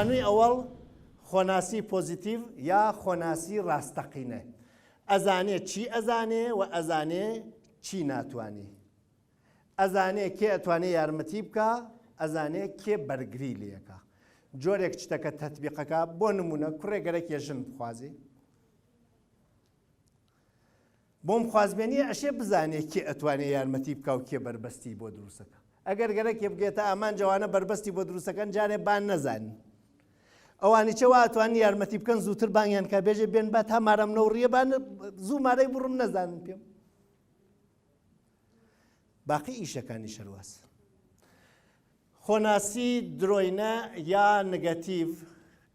خانووی ئەوەڵ خۆناسی پۆزیتیڤ یا خۆناسی ڕاستەقینە ئەزانێ چی ئەزانێ و ئەزانێ چی ناتوانانی ئەزانێ کێ ئەتوانێ یارمەتی بکە ئەزانێ کێ بەرگری لەکە جۆرێک شتەکە تەتبیقەکە بۆ نمونە کوڕێ گەرەکێ ژن بخوازی بۆم خوازبێنی ئەشێ بزانێ کێ ئەتوانێ یارمەتی بکا و کێ بەربەستی بۆ دروستەکە ئەگەر گەرەکێ بگێتە ئامان جەوانە بەربەستی بۆ دروستەکەن جارێ بان نەزانین ئەوانی چێ واتوان یارمەتی بکەن زووتر بانگیان کا بێژێ بێن با تا مارەم نەوڕیە بان زوو مارەی بڕم نەزانن پێم باقی ئیشەکانی شەرواز خۆناسی درۆینە یا نگەتیڤ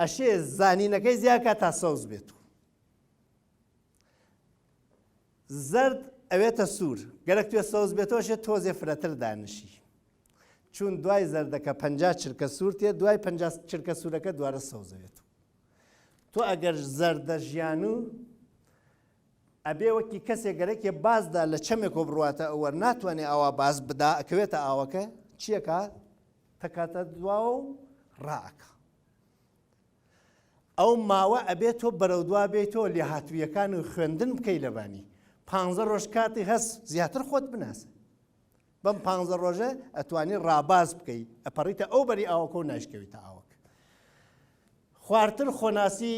ئەشێ زانینەکەی زیاد کات تا سەوز بێت و زەرد ئەوێتە سوور گەرەک توێ سەوز بێتەوە شێت تۆزێ فرەتر دانشی چون دوای زەردەکە پ چرکە سوورتێ دوای پ چرکە سوورەکە دوارە سەوزەوێت تۆ ئەگەر زەردە ژیان و ئەبێ وەکی کەسێ گەرەکێ باز دا لە چەمێکۆ بڕواتە ئەوەر ناتوانێ ئاوا باز بدا ئەکەوێتە ئاوەکە چیەکا تەکاتە دواوە و ڕائەکا ئەو ماوە ئەبێت تۆ بەرەو دوا بێتەوە لێ هاتوویەکان و خوێندن بکەی لەبانی پ ڕۆژ کاتی هەست زیاتر خۆت بناسە بەم پ ڕۆژە ئەتوانی ڕاباز بکەی ئەپەڕیتە ئەو بەری ئاوەکە و ناشکەویتە ئاوەکە خوارتر خۆناسی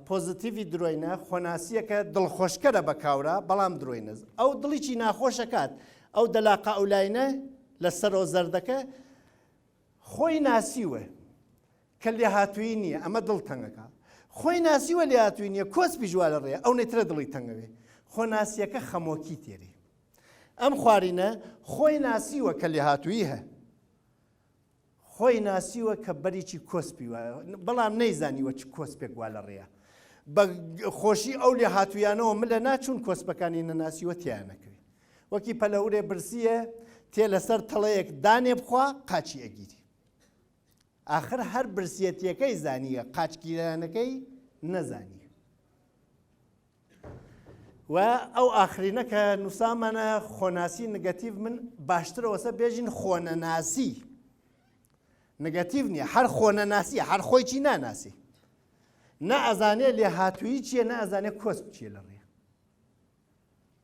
پۆزتیڤی درۆینە خۆناسییەکە دڵخۆشکەرە بە کاورا بەڵام درۆینە ئەو دڵیی ناخۆشەکات ئەو دەلاقە ئەولاینە لە سەرۆ زەردەکە خۆی ناسیوە کە لێ هاتووی نییە ئەمە دڵ تەنگەکە خۆی ناسیوە لێ هاتووی نییە کۆس پیژوا لە ڕێ ئەو نەیترە دڵی تەنگەوێ خۆ ناسیەکە خەمۆکی تێری ئەم خوارینە خۆی ناسیوە کە لێ هاتووی هە خۆی ناسیوە کە بەریکی کۆسپی وایە بەڵام نەیزانیوە چ کۆسپێک وا لە ڕێیە. بە خۆشی ئەو لێ هاتوویانەوە ملە ناچوون کۆسپەکانی نەناسیوە تێیان نەکەوێ. وەکی پەلەورێ برسییە تێ لەسەر تەڵەیەک دانێ بخوا قاچی ئەگیری. ئاخر هەر برسیەتیەکەی زانییە قاچگیرانەکەی نەزانییە. و ئەو ئاخرینە کە نووسامانە خۆناسی نگەتیڤ من باشترەوەسە بێژین خۆنەناسی نگەتیڤ نییە هەر خۆنەناسیە هەر خۆی چی ناناسی نە ئەزانێ لێ هاتووی چییە نە ئەزانێ کۆس بچیە لە ڕێ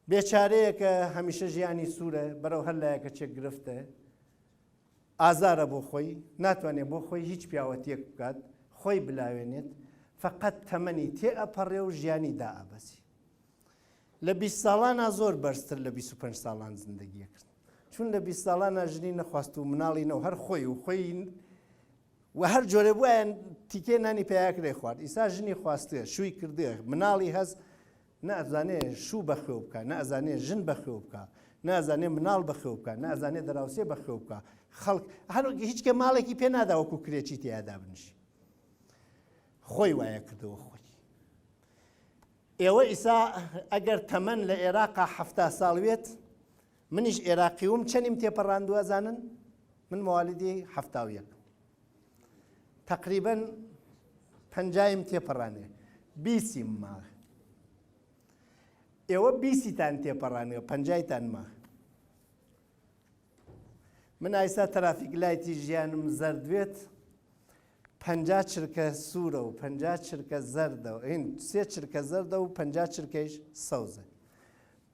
بێچارەیەکە هەمیشە ژیانی سوورە بەرەو هەر لایەکە چێک گرفتە ئازارە بۆ خۆی، ناتوانێت بۆ خۆی هیچ پیاوەتیەک بکات، خۆی بلاوێنێت، فەقەت تەمەنی تێئەپەڕێ و ژیانی دائەبەزێ. لە بیست ساڵانا زۆر بەرزتر لە بیست و پەنج ساڵان زندگی ئەکرد. چون لە بیست ساڵانا ژنی نەخواست و مناڵی نەو هەر خۆی و خۆی و هەر جۆرێ بوایە تیکێ نانی پێاکرێ خوارد، ئیسا ژنی خواستوێ، شووی کردوێ، مناڵی هەس نە ئەزانێ شوو بەخوێو بکا، نە ئەزانێ ژن بەخوێو بکا، نە ئەزانێ مناڵ بەخوێو بکا، نە ئەزانێ دراوسێ بەخوێو بکا، خەڵک هەر وەک هیچ کێ ماڵێکی پێ نادا وەکو کرێچی تێیا دابنیشی. خۆی وایە کردەوە خۆی. ئێوە ئیسا ئەگەر تەمەن لە ئێراقا حەفتا ساڵ وێت، منیش ئێراقیوم چەنیم تێپەڕاندووە زانن؟ من موالیدی حەفتا و یەک. تەقریبەن پەنجایم تێپەڕانێ بیسیم ما ئێوە بیسیتان تێپەڕانێ پەنجایتان ما من ئایسا ترافیک لایتی ژیانم زەردوێت پەنجا چرکە سوورە و پەنجا چرکە زەردە و ئین سێ چرکە زەردە و پەنجا چرکەیش سەوزە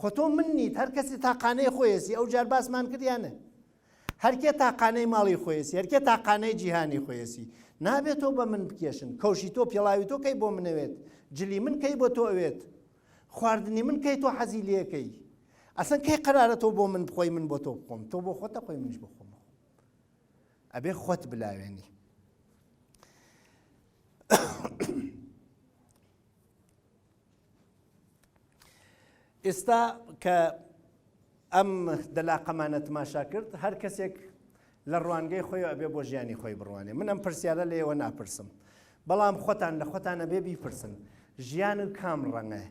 خۆ تۆ من نیت هەر کەسی تاقانەی خۆیەسی ئەو جار باسمان کرد یانە هەرکێ تاقانەی ماڵی خۆیەسی هەرکێ تاقانەی جیهانی خۆیەسی نابێت تۆ بە من بکێشن کەوشی تۆ پێڵاوی تۆ کەی بۆ منەوێت جلی من کەی بۆ تۆ ئەوێت خواردنی من کەی تۆ حەزی لەکەی ئەسن کەی قرارە تۆ بۆ من بخۆی من بۆ تۆ بخۆم تۆ بۆ خۆتە خۆی منش بخۆم ئەبێ خۆت بلاوێنی ئێستا کە ئەم دەلاقەمانە تماشا کرد هەر کەسێک لە ڕوانگەی خۆی ئەبێ بۆ ژیانی خۆی بڕوانێ من ئەم پرسیارە لە ئێوە ناپرسم بەڵام خۆتان لە خۆتانە بێ بیپرسن ژیان و کام ڕەنگە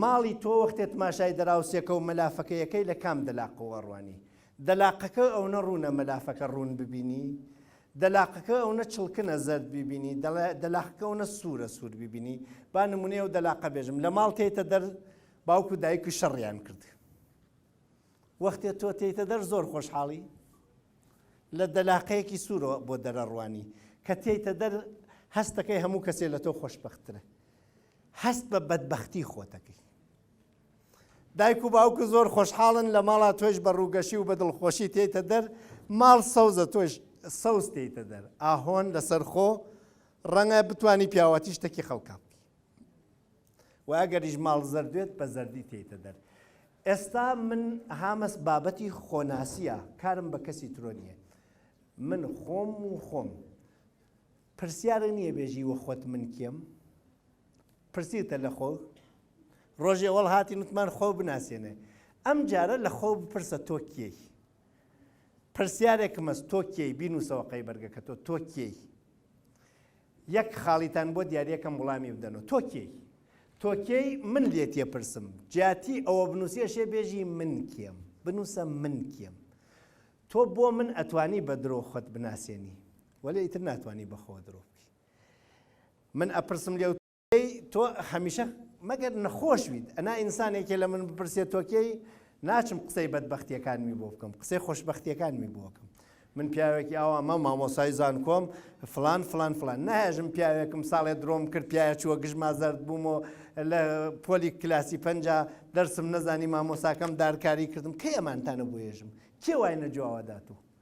ماڵی تۆ وەختێ تماشای دراوسێکە و مەلافەکەیەکەی لە کام دەلاقەوە ڕوانی دەلاقەکە ئەوە ڕوونە مەلافەکە ڕوون ببینی دەلاقەکە ئەونە چڵکنە زەرد بیبینی دەلاقەکە ئەونە سوورە سوور بیبینی با نمونەی ئەو دەلاقە بێژم لە ماڵ تێتە دەر باوک و دایک و شەڕیان کرد وەختێ تۆ تێتە دەر زۆر خۆشحاڵی لە دەلاقەیەکی سوورۆ بۆ دەرەڕوانی کە تێتە دەر هەستەکەی هەموو کەسێ لە تۆ خۆشببخترە هەست بە بەدبختی خۆتەکەی دایک و باوکت زۆر خۆشحاڵن لە ماڵا تۆش بە ڕووگەشی و بە دڵخۆشی تێیتە دەر ماڵ سەوزە تۆش سەوز تێیتە دەر ئاهۆن لەسەر خۆ ڕەنگە بتانی پیاوەتی شتەکی خەڵکا بکەی و ئەگەریش ماڵ زەردێت بە زەردی تێیتە دەر ئێستا من هامەس بابەتی خۆناسیە کارم بە کەسی ترۆ نییە من خۆم و خۆم پرسیارە نییە بێژی وە خۆت من کێم پرسیتە لە خۆ ڕۆژێ وەڵ هاتین وتمان خۆو بناسێنێ ئەم جارە لە خۆو بپرسە تۆ کێی پرسیارێکم هەست تۆ کێی بینوسەوە قەی بەرگەکە تۆ تۆ کێی یەک خاڵیتان بۆ دیارەکەم وڵامی بدەنەوە تۆ کێی تۆ کێی من لێ تێپرسم جیاتی ئەوە بنووسێشێ بێژی من کێم بنووسە من کێم تۆ بۆ من ئەتوانی بە درۆ خۆت بناسێنی وەلێ ئیتر ناتوانانی بەخۆ درۆ من ئەپرسم لێ ئەی تۆ هەمیشە مەگەر نەخۆش بیت ئەنا ئینسانێکی لە من بپرسێت تۆکەی ناچم قسەی بەدبختیەکانمی بۆ بکەم قسەی خۆشببختیەکانمی بۆکەم من پیاوێکی ئاوا مە مامۆسای زان کۆم فلان فلان فلان ناژم پیاوێکم ساڵێ درۆم کرد پیاە چووە گژما زرد بوومەوە لە پۆلی کلاسی پ دەرسم نەزانی مامۆساکەم دارکاری کردم کە ئەمانتانە بۆێژم کێ وای نەجوواوە داتوو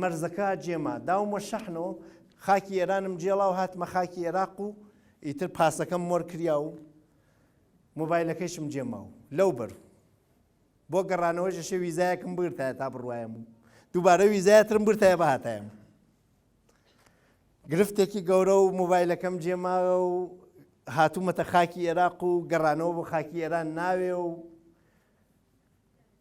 مەرزەکە جێما داوم وە شەحن و خاکی ئێرانم جێڵا و هاتمە خاکی ئێراق و ئیتر پاسەکەم مۆر کریا و مۆبایلەکەیشم جێما و لەو بەر بۆ گەڕانەوەی ژەشە ویزایەکم بگرتایە تا بڕوایم و دووبارە ویزایەترم برتایە بەهاتایم گرفتێکی گەورە و مۆبایلەکەم جێماوە و هاتوومەتە خاکی ئێراق و گەڕانەوە بۆ خاکی ئێران ناوێ و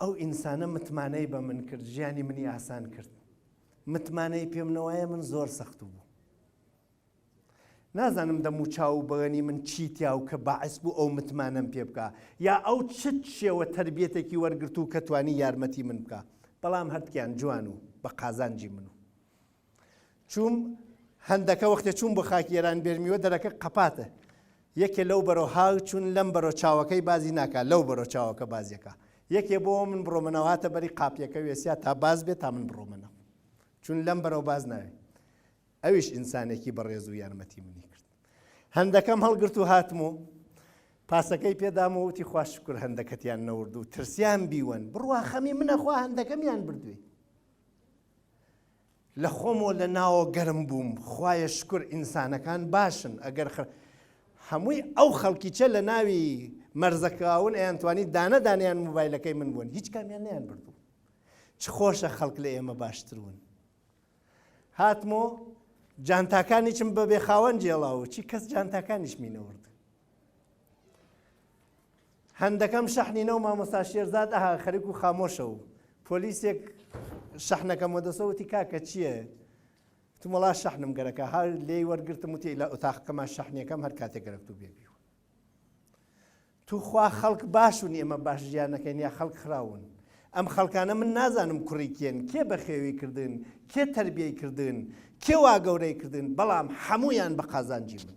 ئەو ئینسانە متمانەی بە من کرد ژیانی منی ئاسان کرد متمانەی پێم نەوایە من زۆر سەخت بوو نازانم دەم و چاو و بەغەنی من چی تیا و کە باعس بوو ئەو متمانەم پێ بکە یا ئەو چت شێوە تربیەتێکی وەرگرت و کە توانی یارمەتی من بکە بەڵام هەردکیان جوان و بە قازانجی من و چووم هەندەکە وەختێ چووم بۆ خاکی ئێران بێرمیوە دەرەکە قەپاتە یەکێ لەو بەرەو هاو چوون لەم بەرەو چاوەکەی بازی ناکات لەو بەرەو چاوەکە بازیەکە یەکێ بۆ من بڕۆمەنەواتە بەری قاپیەکە وێسیا تا باز بێت تا من بڕۆمەنەوە چون لەم بەرەو باز ناوێت ئەویش ئینسانێکی بەڕێز و یارمەتی منی کرد هەندەکەم هەڵگرت و هاتم و پاسەکەی پێدام و وتی خوش شکر هەندەکەتیان نەورد و ترسیان بیوەن بڕوا خەمی منەخوا هەندەکەمیان بردوێ لە خۆمەوە لە ناوە گەرم بووم خوایە شکر ئینسانەکان باشن ئەگەر خە هەمووی ئەو خەڵکیچە لە ناوی مەرزەکەون ئەیانتوانی دانە دانیان موبایلەکەی من بوون هیچ کامیان نیان بردوو چ خۆشە خەڵک لە ئێمە باشترون هاتمۆ جانتاکانیچم بەبێ خاوەن جێڵاوە چی کەس جانتاکانیش مینەورد هەندەکەم شەحنی نەو مامۆستا شێرزاد ئەها خەرک و خامۆشە و پۆلیسێک شەحنەکەم وەدەسەوتی کاکە چییە؟ تمەڵا شەحنم گەرەکە هەر لێی وەرگرتم وتی لە ئۆتاقەکەمان شەحنەکەم هەر کاتێک گەرەک تو بێبی و توخوا خەڵک باشون ئێمە باش ژیانەکەین یا خەڵک خراون ئەم خەڵکانە من نازانم کوڕیکێن کێ بەخێوی کردن کێ تربیەی کردن کێ وا گەورەی کردن بەڵام هەمویان بە قازانجی من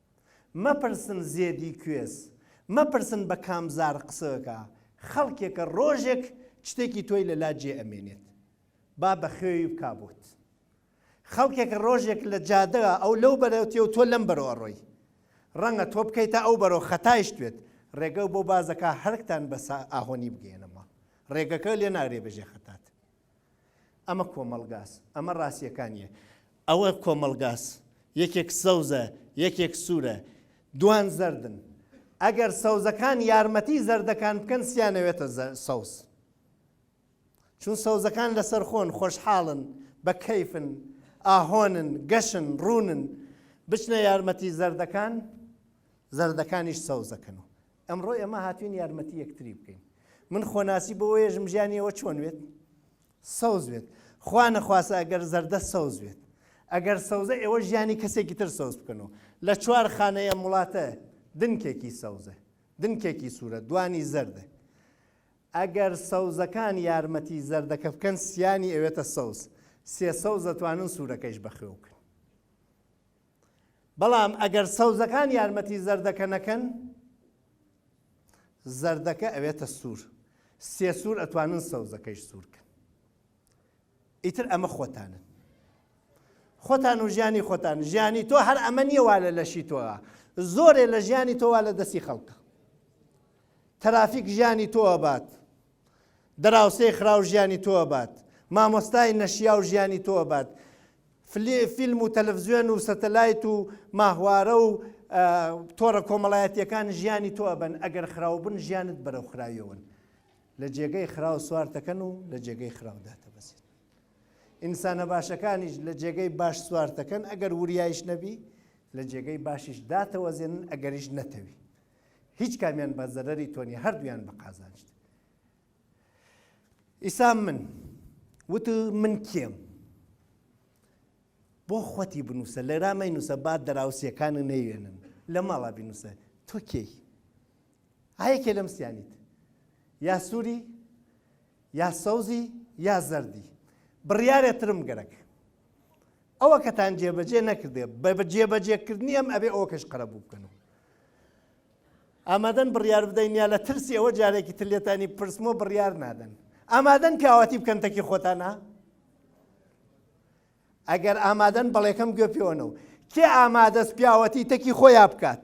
مەپرسن زێدی کوێز مەپرسن بە کام زار قسەکا خەڵکێکە ڕۆژێک چتێکی تۆی لە لا جێ ئەمێنێت با بە خوێوی بکا بۆت خەڵکێکە ڕۆژێک لە جادە ئەو لەو بەرەو تێ و تۆ لەم بەرەو ئەڕۆی ڕەنگە تۆ بکەیتە ئەو بەرەو خەتایش توێت ڕێگە بۆ بازەکە هەرکتان بە ئاهۆنی بگەێنەمە ڕێگەکە لێ ناگرێ بەژێ خەتات ئەمە کۆمەڵگاس ئەمە ڕاستیەکانیە ئەوە کۆمەڵگاس یەکێک سەوزە یەکێک سوورە دوان زەردن ئەگەر سەوزەکان یارمەتی زەردەکان بکەن سیانەوێتە سەوز چون سەوزەکان لەسەر خۆن خۆشحاڵن بە کەیفن ئاهۆنن گەشن ڕوونن بچنە یارمەتی زەردەکان زەردەکانیش سەوزەکەن و ئەمڕۆ ئێمە هاتوین یارمەتی یەکتری بکەین من خۆناسی بۆ وێژم ژیانی ئەوە چۆن وێت سەوز وێت خوا نەخواسە ئەگەر زەردە سەوز وێت ئەگەر سەوزە ئێوە ژیانی کەسێکی تر سەوز بکەنەوە لە چوار خانەیە وڵاتە دنکێکی سەوزە دنکێکی سوورە دوانی زەردە ئەگەر سەوزەکان یارمەتی زەردەکە بکەن سیانی ئەوێتە سەوز سێ سەوز دەتوانن سوورەکەیش بەخێوکن بەڵام ئەگەر سەوزەکان یارمەتی زەردەکە نەکەن زەردەکە ئەوێتە سوور سێ سوور ئەتوانن سەوزەکەیش سوورکەن ئیتر ئەمە خۆتانن خۆتان و ژیانی خۆتان ژیانی تۆ هەر ئەمە نیە وا لە لەشی تۆە زۆرێ لە ژیانی تۆوا لە دەستی خەڵکە تەرافیک ژیانی تۆوە بات دراوسێی خراو ژیانی تۆ ئەبات مامۆستای نەشیاو ژیانی تۆ ئەبات فلی فیلم و تەلەفزیۆن و سەتەلایت و ماهوارە و تۆڕە کۆمەڵایەتیەکان ژیانی تۆ ئەبەن ئەگەر خراو بن ژیانت بەرەو خراویەوەن لە جێگەی خراو سوارتەکەن و لە جێگەی خراودا تەبەزیت ئینسانە باشەکانیش لە جێگەی باش سوارتەکەن ئەگەر وریایش نەبی لە جێگەی باشیش داتەوەزێنن ئەگەریش نەتەوی هیچ کامیان بە زەرەری تۆ نیە هەردوویان بە قازانجت ئیسا من وت من کێم بۆ خۆتی بنووسە لە رامای نووسە با دراوسەکان نەیوێنن لە ماڵا بینووسە تۆ کێی هەیەکێ لەم سیانیت یا سووری یا سەوزی یا زەردی بڕیارێترم گەرەک ئەوەکەتان جێبەجێ نەکردێ بە جێبەجێکردنی ئەم ئەبێ ئەوکەش قەرەبوو بکەن و ئامادەن بڕیار بدەین یا لە ترسی ئەوە جارێکی تر لێتانی پرسمۆ بڕیار نادەن ئامادەن پیاوەتی بکەن تەکی خۆتانە ئەگەر ئامادەن بەڵێکەم گوێ پێوەنەوە کێ ئامادەست پیاوەتی تەکی خۆیان بکات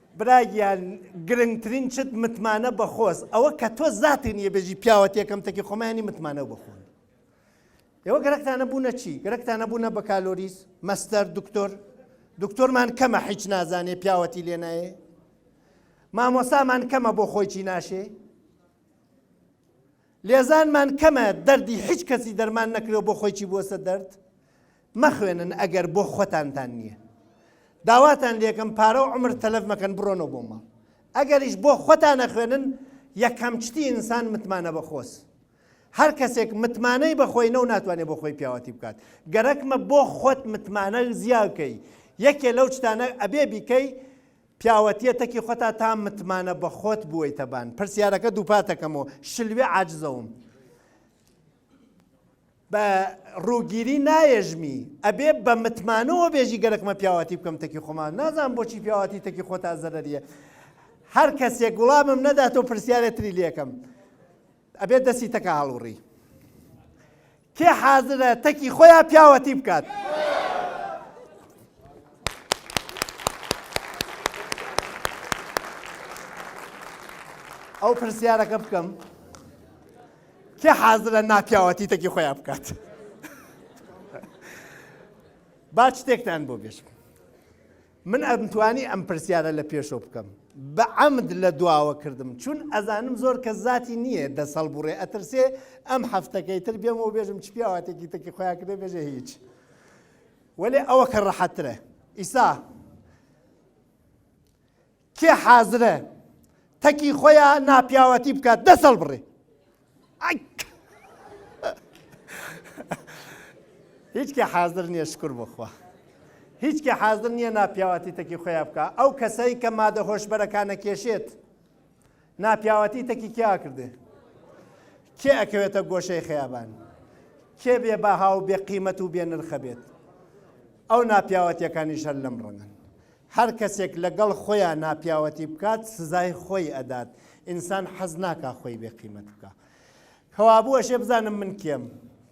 برا گیان گرنگترین چت متمانە بە خۆز ئەوە کە تۆ زاتێ نیە بێژی پیاوەتێکم تەکی خۆمانی متمانە بخۆن ئێوە گەرەکتانە بوونە چی گەرەکتانە بوونە بە کالۆریس مەستەر دکتۆر دکتۆرمان کەمە حیچ نازانێ پیاوەتی لێ نایێ مامۆسامان کەمە بۆ خۆیی ناشێ لێزانمان کەمە دەردی هیچ کەسی دەرمان نەکرێ بۆ خۆیی بووەسە دەرد مەخوێنن ئەگەر بۆ خۆتانتان نیە داواتان لێکەم پارە و عمر تەلەف مەکەن بڕۆنەوە بۆ ماڵ ئەگەریش بۆ خۆتان نەخوێنن یەکەم چتی ئینسان متمانە بەخۆس هەر کەسێک متمانەی بەخۆی نەو ناتوانێت بۆ خۆی پیاوەتی بکات گەرەکمە بۆ خۆت متمانە زیاکەی یەکێ لەو شتانە ئەبێ بیکەی پیاوەتیە تەکی خۆتا تا متمانە بە خۆت بوویتەبان پرسیارەکە دووپاتەکەمەوە شلوێ عجزەوم بە ڕووگیری نایەژمی ئەبێ بە متمانەوە بێژی گەرەک مە پیاواتی بکەم تەکی خۆمان نازان بۆچی پیاواتی تەکی خۆتا زەرەریە هەر کەسێک وڵامم نەدات و پرسیارێتری لەکەم ئەبێ دەستی تەکە هەڵوڕی کێ حازرە تەکی خۆیان پیاوەتی بکات. ئەو پرسیارەکە بکەم. کێ حازرە ناپیاوەتی تەکی خۆیان بکات با شتێکتان بۆ بێژم من ئەمتوانی ئەم پرسیارە لە پێشۆ بکەم بە ئەمد لە دواوە کردم چون ئەزانم زۆر کە زیاتی نییە دەس هەڵبڕێ ئەترسێ ئەم هەفتەکەی تر بێم و بێژم چ پیاواتێکی تەکی خۆیان کردێ بێژە هیچ وەێ ئەوە کە ڕەحەترە ئیسا کێ حازرە تەکی خۆیا ناپیاوەتی بکات دەست هەڵبڕێ هیچ کێ حازر نییە شکر بخوا هیچ کێ حازر نییە ناپیاوەتی تەکی خۆیا بکە ئەو کەسایی کە مادە هۆشبەرەکانە کێشێت ناپیاوەتی تەکی کیا کردێ کێ ئەکەوێتە گۆشەی خەیابان کێ بێ بەها و بێ قیمەت و بێ نرخە بێت ئەو ناپیاوەتیەکانی شەر لەم ڕەنگن هەر کەسێک لەگەڵ خۆیا ناپیاوەتی بکات سزای خۆی ئەدات ئینسان حەز ناکا خۆی بێ قیمەت بکە کەوابوو ئەشێ بزانم من کێم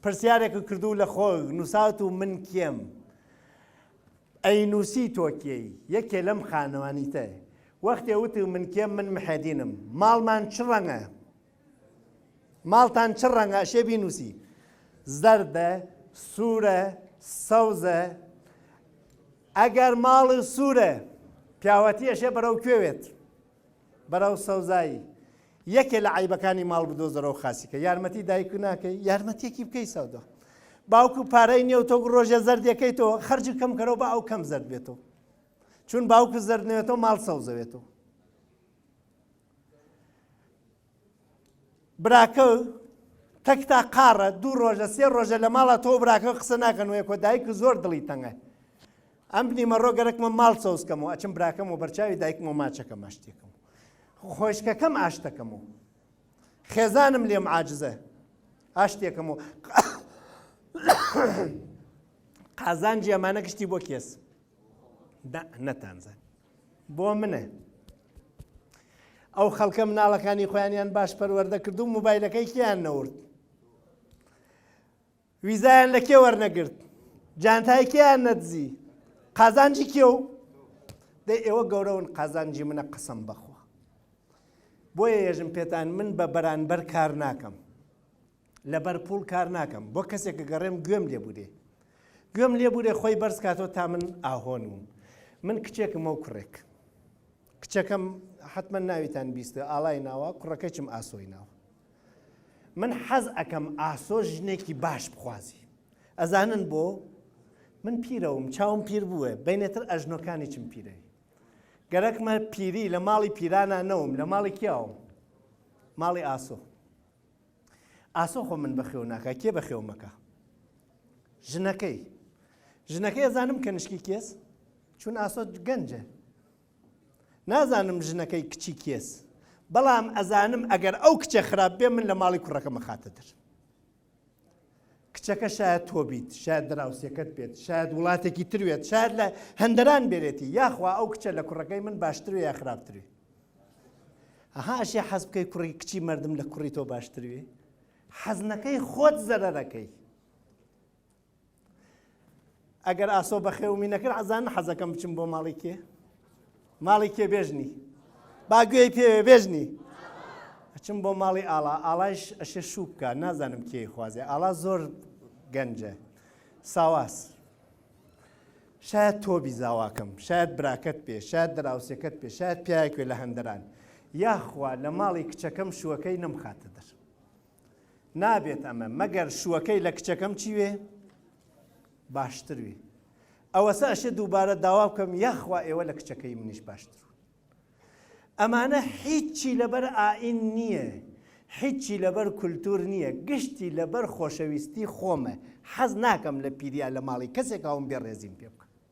پرسیارێک کردو لە خۆ نووسات و من کێم ئەی نووسی تۆکیەی یەکێ لەم خانەوانی تێ وەختێ وتو من کێم من محێدینم ماڵمان چ ڕەنگە ماڵتان چ ڕەنگە ئەشێ بینووسی زەردە سوورە سەوزە ئەگەر ماڵی سوورە پیاوەتی ئەشێ بەرەو کوێوێت بەرەو سەوزایی یەکێ لە عیبەکانی ماڵ بدۆزەرەوە خاسیکە یارمەتی دایک ناکەی یارمەتیەکی بکەی سەودە باوکو پارەی نیێو تۆ ڕۆژە زەردەکەی تۆ خرج کەم کەرەوە بە ئەو کەم زرد بێتەوە چون باوکو زردنێتەوە ماڵ سەوزەوێتەوە براکەو تەکتا قاڕە دوو ڕۆژە سێ ڕۆژە لە ماڵە تۆ براکە قسە ناکەن وێ کۆ دایک زۆر دڵی تەنگە ئەم بنیمە ڕۆ گەرەکمە ماڵ سەوزکەم و ئەچم براکەم و بەرچاوی دایکم و ماچەکە ماشتێکم خۆشکەکەم ئاشتەکەم و خێزانم لێم عاجزە ئاشتێکم و قازانجی ئەمانە گشتی بۆ کێس دا نەتانزان بۆ منە ئەو خەڵکە مناڵەکانی خۆیانیان باش پەروەەردە کرد و موبایلەکەی کیان نەورد ویزایان لە کێ وەرنەگرت جانتای کێیان نەدزی قازانجی کێ و دە ئێوە گەورەون قازانجی منە قسم بەخۆ بۆیە یەژم پێتان من بە بەرانبەر کار ناکەم لەبەر پوڵ کار ناکەم بۆ کەسێک گەڕێم گوێم لێ بوورێ گوێم لێ بوورێ خۆی بەرز کاتەوە تا من ئاهۆن وم من کچێکم ئەو کوڕێک کچەکەم حتممە ناویتان بیستە ئاڵای ناوە کوڕەکەچم ئاسۆی ناوە من حەز ئەەکەم ئاسۆ ژنێکی باش بخوازی ئەزانن بۆ من پیرەوم چاوم پیر بووە بینێتر ئەژنۆکانی چم پیرەوی گەرەکمە پیری لە ماڵی پیرانە نەوم لە ماڵی کیاوم ماڵی ئاسۆ ئاسۆ خۆ من بەخێو ناکا کێ بەخێو مەکە ژنەکەی ژنەکەی ئەزانم کە نشکی کێس چون ئاسۆ گەنجە نازانم ژنەکەی کچی کێس بەڵام ئەزانم ئەگەر ئەو کچە خراپ بێ من لە ماڵی کوڕەکە مەخاتە در کچەکە شایەد تۆ بیت، شایەد دراوسێکەت بێت، شایەد وڵاتێکی تر بێت، شایەد لە هەندەران بێرێتی، یاخوا ئەو کچە لە کوڕەکەی من باشتروێ یا خراپتروێ؟ ئەها ئەشێ حەز بکەی کوڕی کچی مەردم لە کوڕی تۆ باشتروێ؟ حەز نەکەی خۆت زەرەرەکەی. ئەگەر ئاسۆ بەخێومی نەکرد ئەزانن حەزەکەم بچم بۆ ماڵی کێ ماڵی کێ بێژنی باگوێی پێ بێژنی ئەچم بۆ ماڵی ئاڵا ئاڵایش ئەشێ شوو بکە نازانم کێ خوازێ ئاڵا زۆر گەنجە ساواز شاید تۆبی زاواکەم شاید براکەت پێ شاید دراوسەکەت پێ شاید پیاکوێ لە هەندران یاخوا لە ماڵی کچەکەم شوەکەی نەمخاتە دەر نابێت ئەمە مەگەر شوەکەی لە کچەکەم چی وێ باشتر وێ ئەوەسە ئەشێ دووبارە داوا بکەم یاخوا ئێوە لە کچەکەی منیش باشتر ئەمانە هیچی لەبەر ئائین نییە هیچی لەبەر کولتور نییە گشتی لەبەر خۆشەویستی خۆمە حەز ناکەم لە پیریا لە ماڵی کەسێک هاوم بێ ڕێزیم پێ بکە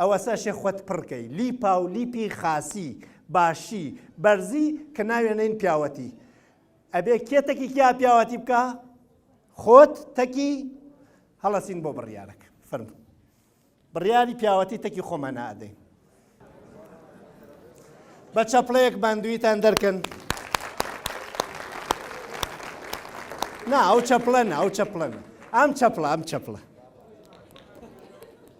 ئەوەسا شێ خوت پڕ کەی لیپا و لیپی خاسی باشی بەرزی کە ناوێ نین پیاوەتی ئەبێ کێ تەکی کیا پیاوەتی بکە خۆت تەکی هەڵەسین بۆ بڕیارەکە فرم بڕیاری پیاوەتی تەکی خۆمان نادەین بە چەپڵەیەک باندویتان دەرکەن نا ئەو چەپڵەن ئەو چەپڵەن ئەم چەپڵە ئەم چەپڵە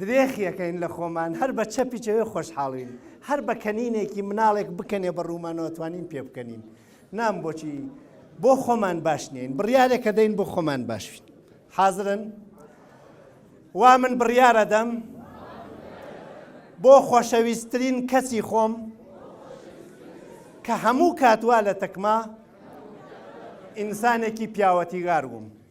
درێخیەکەین لە خۆمان هەر بە چەپی چەوێ خۆشحاڵین هەر بە کەنینێکی مناڵێک بکەنێ بە ڕوومانەوە توانین پێ بکەنین نام بۆچی بۆ خۆمان باش نین بڕیارێکە دەین بۆ خۆمان باشین حازرن وا من بڕیارە دەم بۆ خۆشەویستترین کەسی خۆم کە هەموو کاتوا لە تەکما ئینسانێکی پیاوەتیگار بووم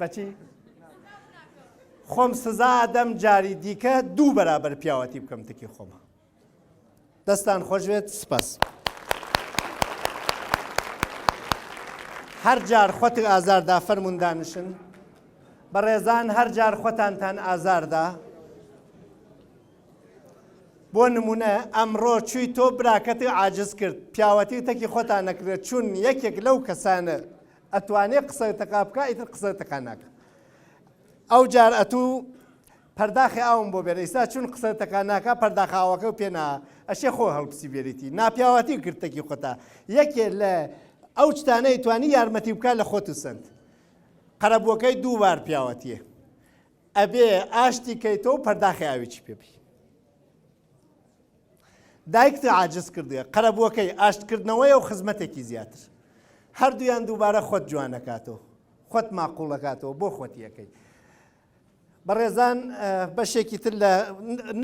بەچی خۆم سزا ئەدەم جاری دیکە دوو بەرابەر پیاوەتی بکەم تکی خۆمە دەستان خۆشێت سپاس هەر جار خۆتر ئازاردا فەرمونون دانیشن بەڕێزان هەر جار خۆتانتان ئازاردا بۆ نمونە ئەمڕۆ چووی تۆ براکەتی عاجز کرد پیاوەتی تەکی خۆتان نەکرێت چون یەکێک لەو کەسانە ئەتوانێ قسە تەقا بکا ئیتر قسە تەقا ناکە ئەو جار ئەتوو پەرداخی ئاوم بۆ بێن ئیستا چون قسە تەکا ناکە پەرداخاوەکە و پێنا ئەشێ خۆ هەڵپسی بێریتی ناپیاواتی گرتەکی خۆتا یەکێ لە ئەو شتانەی توانی یارمەتی بکە لە خۆت و سند قەرەبووەکەی دووبار پیاوەتیە ئەبێ ئاشتی کەیتەوە پەرداخی ئاویی پێبی دایکت عاجز کردووە، قەرەبووەکەی، ئاشتکردنەوەیە و خزمەتێکی زیاتر. هەردوویان دووبارە خۆت جوانەکاتەوە. خۆت ماقوڵەکاتەوە بۆ خۆتییەکەی. بەڕێزان بەشێکی تر لە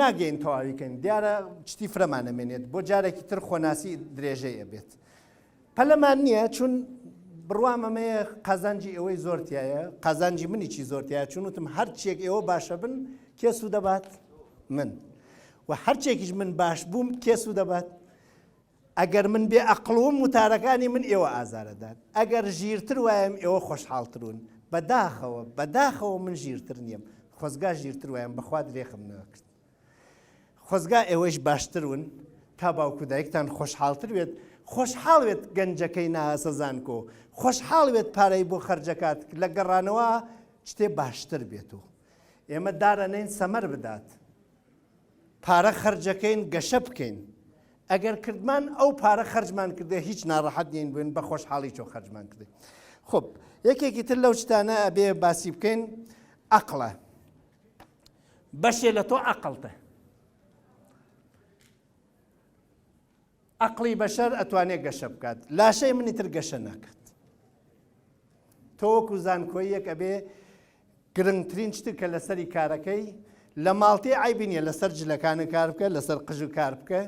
ناگەین تەواویکەین دیارە چتی فرەمانەمێنێت بۆ جارێکی تر خۆناسی درێژەیە بێت. پەلەمان نییە چون بڕوام ئەمەیە قازانجی ئێوەی زۆر تایە قازانجی منیی زۆر تایە چون وتم هەرچێک ئێوە باشە بن کێ سوود دەبات من و هەرچێکیش من باش بووم کێ سوود دەبات ئەگەر من بێ ئەقلوم وتارەکانی من ئێوە ئازارەدان ئەگەر ژیرتر وایم ئێوە خۆشحاڵترون بەداخەوە بەداخەوە من ژیرتر نییم خۆزگا ژیرتر وایم بەخوا درێخم نەکرد خۆزگا ئێوەیش باشتر وون تا باوک و دایکتان خۆشحاڵتر وێت خۆشحاڵ وێت گەنجەکەی ناهەسە زانکۆ خۆشحاڵ وێت پارەی بۆ خەرجەکات لە گەڕانەوە شتێ باشتر بێت و ئێمە دارەنەین سەمەر بدات پارە خەرجەکەین گەشە بکەین ئەگەر کردمان ئەو پارە خەرجمان کردێ هیچ ناڕەحەت نین بووین بە خۆشحاڵی چۆ خەرجمان کردێ خب یەکێکی تر لەو شتانە ئەبێ باسی بکەین ئەقلە بەشێ لە تۆ عەقڵتە عقلی بەشەر ئەتوانێت گەشە بکات لاشەی منی تر گەشە ناکات تۆوەکو زانکۆی یەک ئەبێ گرنگترین شتر کە لەسەری کارەکەی لە ماڵتی ئایبی نیە لەسەر جلەکانە کار بکە لەسەر قژ و کار بکە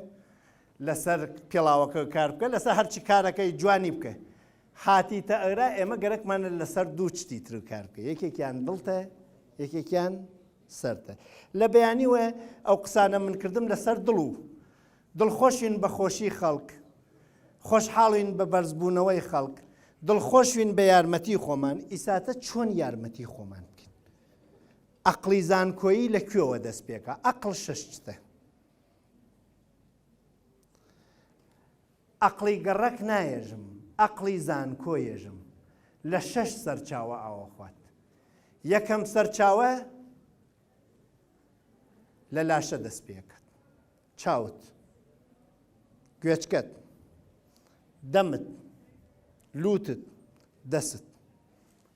لەسەر پێڵاوەکە کار بکە لەسەر هەرچی کارەکەی جوانی بکە هاتیتە ئەرا ئێمە گەرەکمانە لەسەر دوو چتی تر کار بکەین یەکێکیان دڵتە یەکێکیان سەرتە لە بەیانی وە ئەو قسانە من کردم لەسەر دڵ و دڵخۆشین بە خۆشی خەڵک خۆشحاڵین بە بەرزبوونەوەی خەڵک دڵخۆشوین بە یارمەتی خۆمان ئیساتە چۆن یارمەتی خۆمان بکەین ئەقلی زانکۆیی لە کوێوە دەست پێکە ئەقل شەشتە ئەقڵی گەڕەک نایێژم، ئەقڵی زانکۆ یێژم، لە شەش سەرچاوە ئاوەخوات. یەکەم سەرچاوە لە لاشە دەست پێکەت، چاوت، گوێچکەت، دەمت، لووتت، دەستت.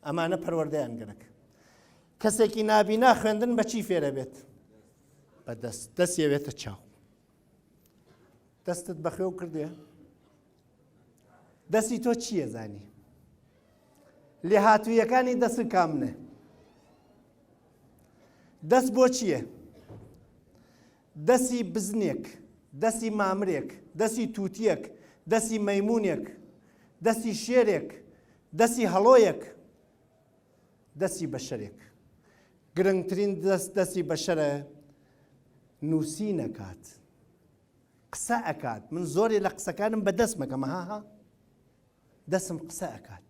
ئەمانە پەروەردەیان گەرەک. کەسێکی نابینا خوێندن بە چی فێرەبێت؟ بە دەست، دەست یەوێتە چاو. دەستت بەخێو کردێ دەستی تۆ چییە زانی لێ هاتوویەکانی دەست کامنێ دەست بۆ چییە دەستی بزنێک دەستی مامرێک دەستی تووتیەک دەستی مەمونونێک دەستی شێرێک دەستی هەڵۆیەک دەستی بەشەرێک گرنگترین دەست دەستی بەشەرە نووسین ئەکات قسە ئەکات من زۆرێ لە قسەکانم بە دەست مەکەمە هاها دەسم قسە ئەکات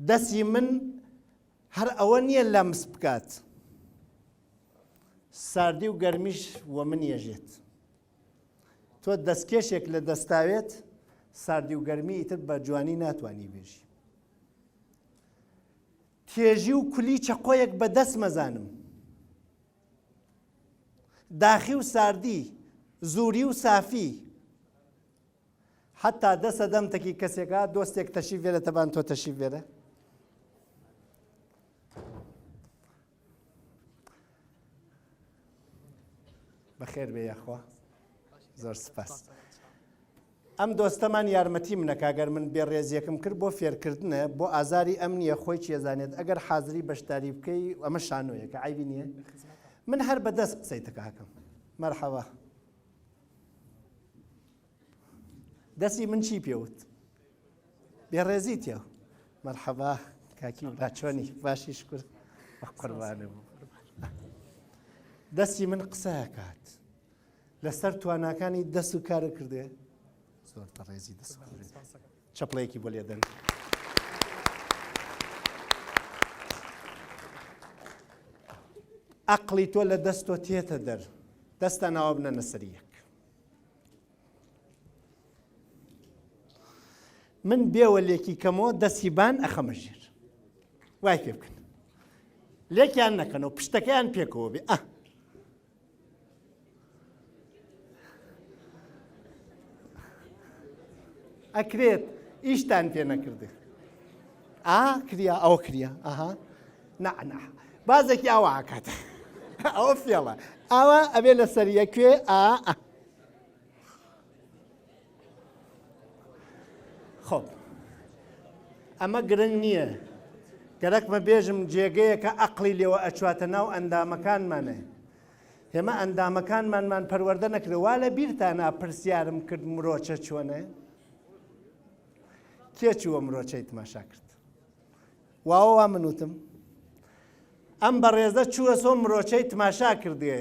دەستی من هەر ئەوە نییە لەمس بکات ساردی و گەرمیش وە من یەژێت تۆ دەستکێشێک لە دەستاوێت ساردی و گەرمی ئیتر بە جوانی ناتوانی بێژی تێژی و کولی چەقۆیەک بە دەست مەزانم داخی و ساردی زوری و سافی حتا دەسە دەم تەکی کەسێکە دۆستێک تەشی بێرە تەبان تۆ تەشی بێرە بەخێر بێ یاخوا زۆر سپاس ئەم دۆستەمان یارمەتی منەکە گەر من بێ ڕێزیەکم کرد بۆ فێرکردنە بۆ ئازاری ئەم نییە خۆی چێزانێت ئەگەر حازری بەشداری بکەی ئەمە شانۆیەکە ئایبی نییە من هەر بەدەست قسەی تکاکەم مەرحەوە دەسی من چی پێوت بێڕێزی تێ مەرحەبا کاکی باچۆنی باشی شکر قوربانە بوو دەستی من قسەکات لەسەر تواناکانی دەست و کارە کردێ زۆر تەڕێزی دەست چپڵەیەکی بۆ لێدەن. ئەقلی تۆ لە دەستۆ تێتە دەر دەستان ناوە بنە نەسەریەک من بێوە لێکی کەمەوە دەستی بان ئەخەمە ژێر وای پێ بکەن لێکیان نەکەنەوە پشتەکەیان پێکەوە بێ ئە ئەکرێت ئیشتان پێ نەکردێت ئا کریا ئەوە کریا ئەها نەعنا بازێکی ئاوا ئاکات ئەوە فێڵە ئاوا ئەبێ لە سەریە کوێ ئا خۆ ئەمە گرنگ نییە گەرەکمە بێژم جێگەیە کە ئەقلی لێوە ئەچواتە ناو ئەندامەکانمانە ئێمە ئەندامەکانمانمان پەروەەردە نەکرێت وا لە بیرتانە پرسیارم کرد مرۆچە چۆنە؟ کێ چووە مرۆچەی تماشا کرد واوە وا من وتم ئەم بەڕێزە چووە سۆ مرۆچەی تماشا کردێ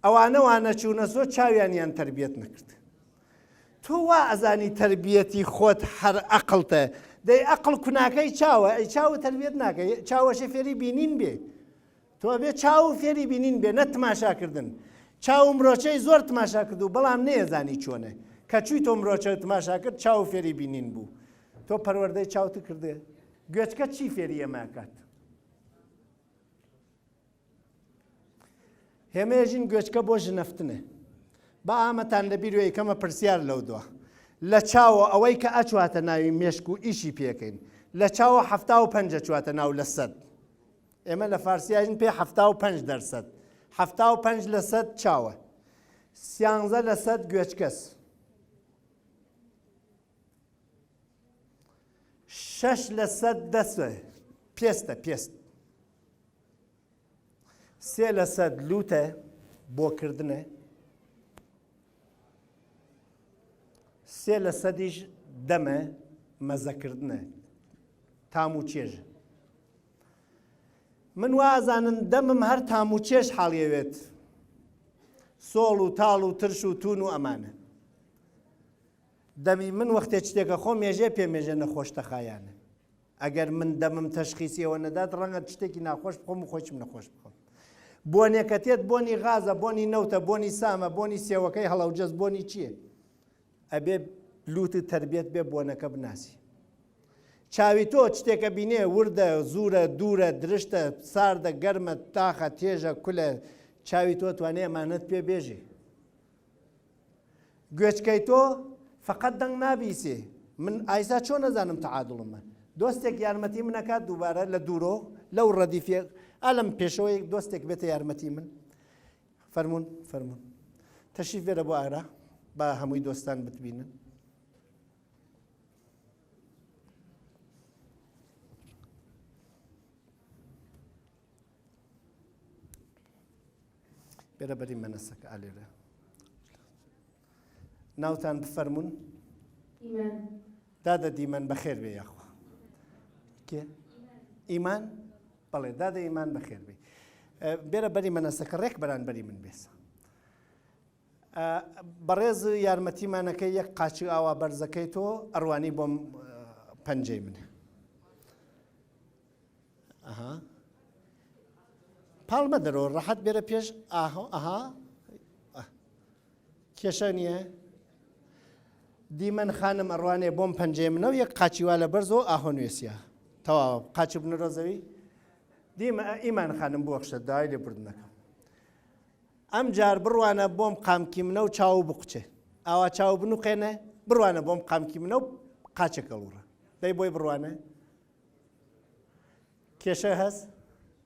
ئەوانە وانە چوونە سۆ چاویانیان تربیەت نەکرد تۆ وا ئەزانی تربیەتی خۆت هەر ئەقلتە دەی ئەقل کوناکەی چاوە ئەی چاوە تربیەت ناکەی چاوەشە فێری بینین بێ تۆ ئەبێ چاو فێری بینین بێ نە تماشا کردن چاو مرۆچەی زۆر تماشا کرد و بەڵام نێزانی چۆنێ کە چوی تۆ مرۆچە تماشا کرد چاو فێری بینین بوو تۆ پەروەردەی چاوت کردێ گوێچکە چی فێری ئەماکات هێمەژین گوێچکە بۆ ژنەفتنێ بە ئامەتان لەبییر وێ کەمە پرسیار لەو دووە لە چاوە ئەوەی کە ئەچواتە ناوی مێشک و ئیشی پێکەین لە چاوە هەفتا و پەنج چواتە ناو لە سەد ئێمە لە فارسی ئەژین پێ حەفتا و پەنج دەرسەد حەفتا و پەنج لە سەد چاوە سیانزە لە سەد گوێچکەس شەش لە سەد دەسە پێستە پێست سێ لە سەد لوتە بۆکردنە سێ لە سەدیش دەمە مەزەکردنە تام و چێژە من وا ئەزانم دەمم هەر تام و چێژ حاڵیەوێت سۆڵ و تاڵ و ترش و تون و ئەمانە دەمی من وەختێ شتێکە خۆ مێژێ پێ مێژە نەخۆش تەخایانە ئەگەر من دەمم تەشخیسیەوە نەدات ڕەنگە شتێکی ناخۆش بخۆم و خۆشم نەخۆش بخۆم بۆنێکەتێت بۆنی غازە بۆنی نەوتە بۆنی سامە بۆنی سێوەکەی هەڵەوجەز بۆنی چییە ئەبێ لوتت تەربیەت بێ بۆنەکە بناسی چاوی تۆ چتێکە بینێ وردە زورە دوورە درشتە ساردە گەرمە تاخە تێژە کولە چاوی تۆ توانێ ئەمانەت پێ بێژێ گوێچکەی تۆ فقط دەنگ نابیسێ من ئایسا چۆن نەزانم تەعادڵمە دۆستێک یارمەتی منەکات دووبارە لە دوورۆ لەو ڕەدیفێ ئالم پێشەوەیەک دۆستێک بێتە یارمەتی من فەرموون فەرموون تەشریف بێرە بۆ ئارا با هەمووی دۆستان بتبینن بێرە بەری مەنەسەکە ئالێرە ناوتان بفەرموون؟ ئیمان. دادە دیمەن بەخێر بێ یاخوا. کێ؟ ئیمان؟ بەڵێ دادە ئیمان بەخێر بێ. بێرە بەری مەنەسەکە ڕێک بەران بەری من بێسە. بەڕێز یارمەتیمانەکە یەک قاچی ئاوا بەرزەکەی تۆ ئەروانی بۆم پەنجەی منە. ئەها. پاڵمە دەرەوە ڕەحەت بێرە پێش ئاهۆ ئەها کێشە نیە دیمەن خانم ئەڕوانێ بۆم پەنجەی منە و یەک قاچی وا لە بەرزۆ ئاهۆ نوێسیە تەواوە قاچی بنەرۆ زەوی دیمە ئیمان خانم بوەخشە داوای لێ بردنەکەم ئەم جار بڕوانە بۆم قامکی منە و چاو بقچێ ئاوا چاو بنوقێنە بڕوانە بۆم قامکی منە و قاچەکەڵوڕە دەی بۆی بڕوانە کێشە هەست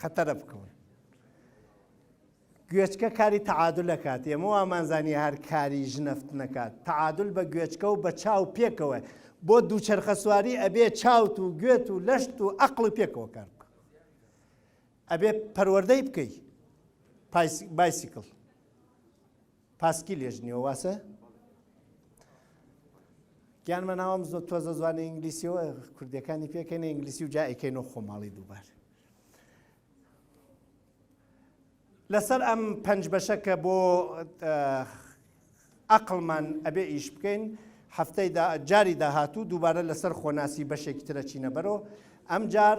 خەتەرە بکەون گوێچکە کاری تەعادل ئەکات ئێمە وامانزانانی هەر کاری ژنەفت نەکات تەعادل بە گوێچکە و بە چاو پێکەوە بۆ دووچەرخە سواری ئەبێ چاوت و گوێت و لەشت و ئەقل و پێکەوە کار بکە ئەبێ پەروەەردەی بکەیت بایسیکل پاسکی لێژنیەوە واسە گیان مەناوام زۆ تۆزە زوانە ئینگلیسیەوە کوردەکانی پێکەنە ئینگلیسی و جا ئەیکەین و خۆماڵی دووبار لەسەر ئەم پەنج بەشەکە بۆ ئەقلمان ئەبێ ئیش بکەین هەفتەی جاری داهاتوو دووبارە لەسەر خۆناسی بەشێکی ترە چینەبەرەوە ئەم جار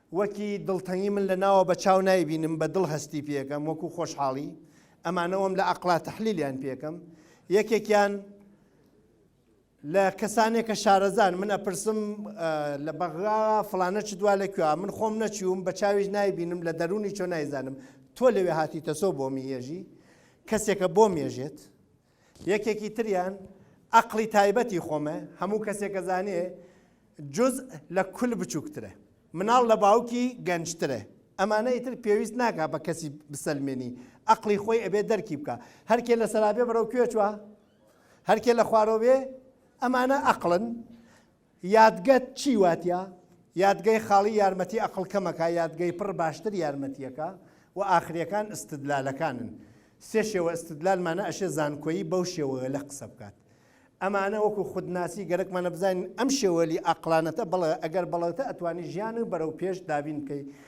وەکی دڵتەنگی من لە ناوە بە چاو نایبینم بە دڵ هەستی پێکەم وەکو خۆشحاڵی ئەمانەوەم لە ئەقڵا تەحلیلیان پێکەم یەکێکیان لە کەسانێکە شارەزان من ئەپرسم لە بەغرا فلانە چ دوا لە کوێ من خۆم نەچووم بە چاویش نایبینم لە دەرونی چۆ نایزانم تۆ لەوێ هاتی تەسۆ بۆ میێژی کەسێکە بۆ مێژێت یەکێکی تریان ئەقڵی تایبەتی خۆمە، هەموو کەسێک ئەزانێ جزء لە کل بچووکترە، مناڵ لە باوکی گەنجترە، ئەمانە ئیتر پێویست ناکا بە کەسی بسەلمێنی، ئەقڵی خۆی ئەبێ دەرکی بکا، هەرکێ لە سەرابێ بەرەو کوێ چوە؟ هەرکێ لە خوارۆ بێ؟ ئەمانە ئەقڵن. یادگەت چی واتە؟ یادگەی خاڵی یارمەتی ئەقڵ کەمەکا، یادگەی پڕ باشتر یارمەتیەکا و ئاخریەکان ئستدلالەکانن. سێ شێوە ئستدلال مانە ئەشێ زانکۆیی بەو شێوەوەلە قسە بکات. ئەمانە وەکو خودناسی گەرەکمانە بزانین ئەم شێوەلی ئاقڵانەتە بەڵێ ئەگەر بەڵێتە ئەتوانی ژیان و بەرەو پێش دابین بکەی